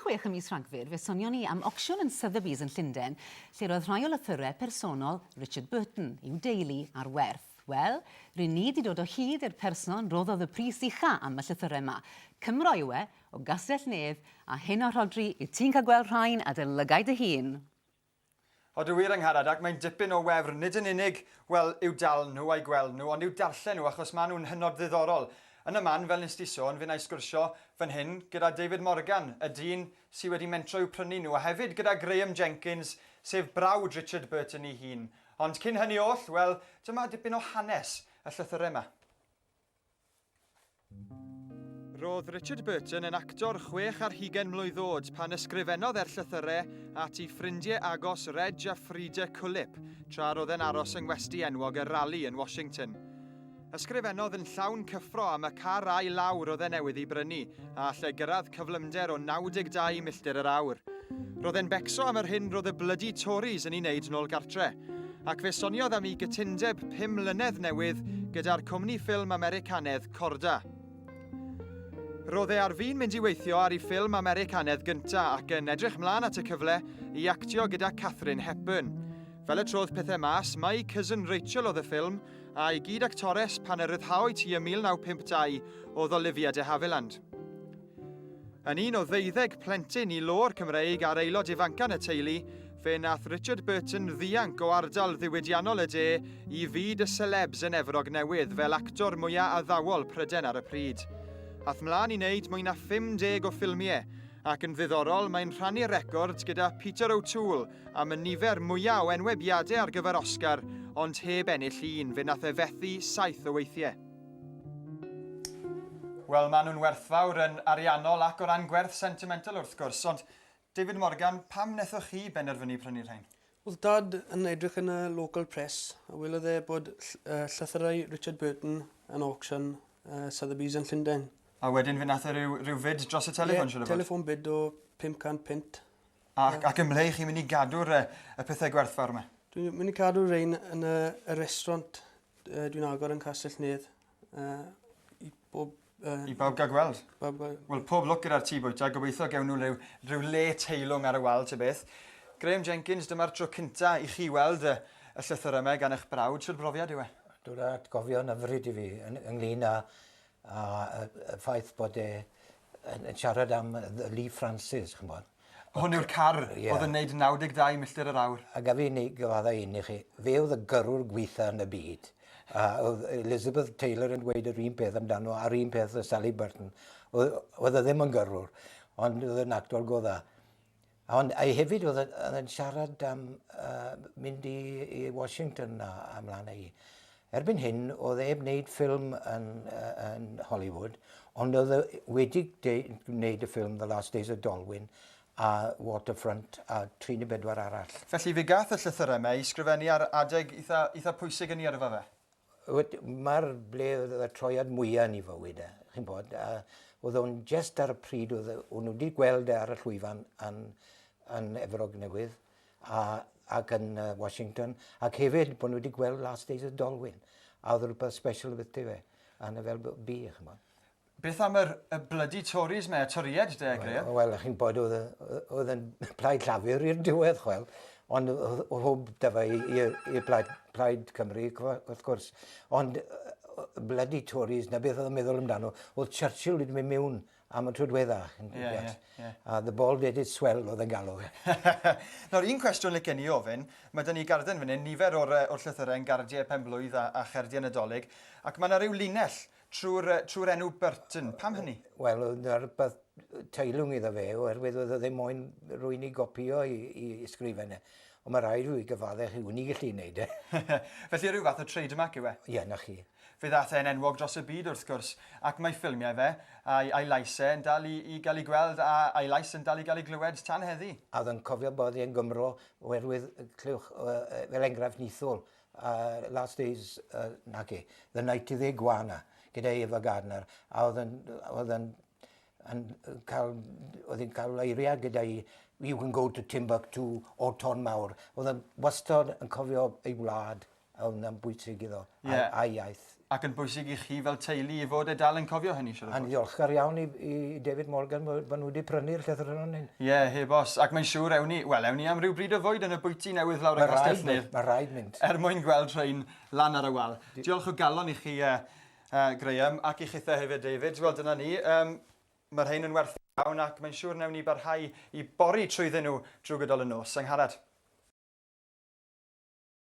chwech ym mis Rhagfyr, fe sonion ni am ocsiwn yn Sotheby's yn Llundain, lle'r oedd rhai o lythyrau personol Richard Burton, i'w deulu, ar werth. Wel, ry'n ni 'di dod o hyd i'r person roddodd y pris ucha am y llythyrau 'ma. Cymro yw e, o Gastell-nedd, a hyn o Rhodri, wyt ti'n cael gweld rhain, adolygai dy hun! Ond y wir Angharad, ac mae'n dipyn o wefr, nid yn unig, wel, i'w dal nhw a'i gweld nhw, ond i'w darllen nhw, achos maen nhw'n hynod ddiddorol. Yn y man, fel wnest ti sôn, fu'n-na i sgwrsio fan hyn gyda David Morgan, y dyn sy wedi mentro i'w prynu nhw, a hefyd gyda Graham Jenkins, sef brawd Richard Burton ei hun. Ond cyn hynny oll, wel, dyma dipyn o hanes y llythyrau 'ma. Roedd Richard Burton yn actor chwech ar hugen mlwydd oed pan ysgrifennodd er llythyrau at ei ffrindiau agos Reg a Frida Cullip tra roedd e'n aros yng ngwesty enwog y Rally yn Washington. Ysgrifennodd yn llawn cyffro am y car a'i lawr oedd e newydd ei brynu, a allai gyrraedd cyflymder o 92 milltir yr awr. Roedd e'n becso am yr hyn roedd y blydi Tories yn ei wneud nôl gartre, ac fe soniodd am ei gytundeb 5 mlynedd newydd gyda'r cwmni ffilm Americanedd Corda. Roedd e ar fin mynd i weithio ar ei ffilm Americanedd gynta ac yn edrych mlaen at y cyfle i actio gyda Catherine Hepburn. Fel y trodd pethau mas, mae ei cousin Rachel oedd y ffilm, a'i gyd-actores pan y ryddhaoit hi ym 1952 oedd Olivia de Havilland. Yn un o ddeuddeg plentyn i lôr Cymreig a'r aelod ifancan y teulu, fe nath Richard Burton ddianc o ardal ddiwydiannol y de i fyd y selebs yn Efrog Newydd fel actor mwyaf addawol Pryden ar y pryd. Ath mlaen i wneud mwy na 50 o ffilmiau, ac yn ddiddorol mae'n rhannu record gyda Peter O'Toole am y nifer mwyaf o enwebiadau ar gyfer Oscar, ond heb ennill un, fe nath e fethu saith o weithiau. Wel, maen nhw'n werthfawr yn ariannol ac o ran gwerth sentimental wrth gwrs, ond David Morgan, pam wnaethoch chi benderfynu prynu'r rhain? Oedd Dad yn edrych yn y local press a welodd e bod llythyrau Richard Burton yn auction Sotheby's yn Llundain. A wedyn fe nath e ryw fid dros y telefon, siŵr o fod? Ie, telefon bid o 500 punt. Ac, ac yn ble chi'n mynd i gadw'r uh, y pethau gwerthfawr yma? Dwi'n mynd i cadw rhain yn y, y restaurant uh, dwi'n agor yn Castell Nedd. Uh, I bob... Uh, I bawb gael gweld? Bawb gael... Wel, pob lwc gyda'r tî bwyta. Gobeithio gewn nhw rhyw, rhyw le teilwng ar y wal, te beth. Graham Jenkins, dyma'r tro cynta i chi weld y, y llythyr yma gan eich brawd. Sut brofiad yw e? Dwi'n rhaid gofio yn ymryd i fi ynglyn â, â, â, â ffaith bod e yn siarad am Lee Francis, chymod. Hwn yw'r car oedd yn neud 92 milltir yr awr. A gaf i gyfadda un i chi, fe oedd y gyrrwr gweitha yn y byd. A oedd Elizabeth Taylor yn gweud yr un peth amdano, a'r un peth oedd Sally Burton. Oedd, oedd e ddim yn gyrrwr, ond oedd yn actor go dda. Ond ei hefyd oedd yn siarad am uh, mynd i, i Washington a, a mlaen ei. Erbyn hyn, oedd e heb wneud ffilm yn, uh, yn Hollywood, ond oedd e wedi gwneud y ffilm The Last Days of Dolwyn a Waterfront a 34 arall. Felly fe gath y llythyrau yma i sgrifennu ar adeg eitha, eitha pwysig yn ei yrfa fe? Mae'r ble oedd y troiad mwyaf yn ei fywyd e, chi'n bod, a oedd o'n jest ar y pryd oedd o'n nhw wedi gweld e ar y llwyfan yn, yn Efrog Newydd, a, ac yn uh, Washington, ac hefyd bod nhw wedi gweld Last Days of Dolwyn, a oedd rhywbeth special beth yw e, a na fel bi, chymod. Beth am yr, y blydi Tories me, y Toried de, Graham? Wel, well, chi'n bod oedd, oedd yn plaid llafur i'r diwedd, chwel, ond o hwb da fe i'r plaid, plaid Cymru, wrth gwrs. Ond blydi Tories, na beth oedd yn meddwl amdano, oedd Churchill wedi mynd mewn am y tro diwetha. A the ball did its swell oedd e'n galw. Nawr, un cwestiwn licen i ofyn. Mae dyn ni garden fan hyn, nifer o'r llythyrau yn gardiau penblwydd a, a cherdiau Nadolig, ac mae yna rhyw linell trwy'r trwy enw Burton. Pam hynny? Wel, dyna'r rhywbeth teilwng iddo fe, oherwydd oedd e ddim moyn rwy'n i gopio i, i ysgrifen e. Ond mae rhaid rwy'n gyfaddau chi, wn i gallu gwneud e. Felly rhyw fath o trademark yw e? Ie, na chi. Fe ddaeth e'n enwog dros y byd wrth gwrs, ac mae ffilmiau fe, a'i a'i lais e, yn dal i i gael eu gweld a a'i lais yn dal i gael ei glywed tan heddi. A oedd yn cofio bod e'n Gymro oherwydd clywch fel enghraifft nithol Last Days naci, The Night of the Iguana gyda Ava Gardner a oedd yn oedd yn yn cael oedd yn cael eiriau gyda'i You can go to Timbuktu o Ton Mawr. Oedd yn wastod yn cofio ei wlad Ond yn bwysig iddo, yeah. a'i, a'i iaith. Ac yn bwysig i chi fel teulu i fod e dal yn cofio hynny, siarad. A'n ddiolchgar iawn i, i David Morgan bod nhw wedi prynu'r llythyr yn hyn. Ie, yeah, heb os. Ac mae'n siŵr ewn ni, wel, ewn ni am ryw bryd o fwyd yn y bwyty newydd lawr y Castellnir. Mae rhaid mynd. Er mwyn gweld rhain lan ar y wal. Diolch o galon i chi, uh, uh, Graham, ac i chitha hefyd, David. Wel, dyna ni. Um, mae rhain yn werth iawn ac mae'n siŵr newn ni barhau i bori trwyddyn nhw drwy gydol y nos. Angharad.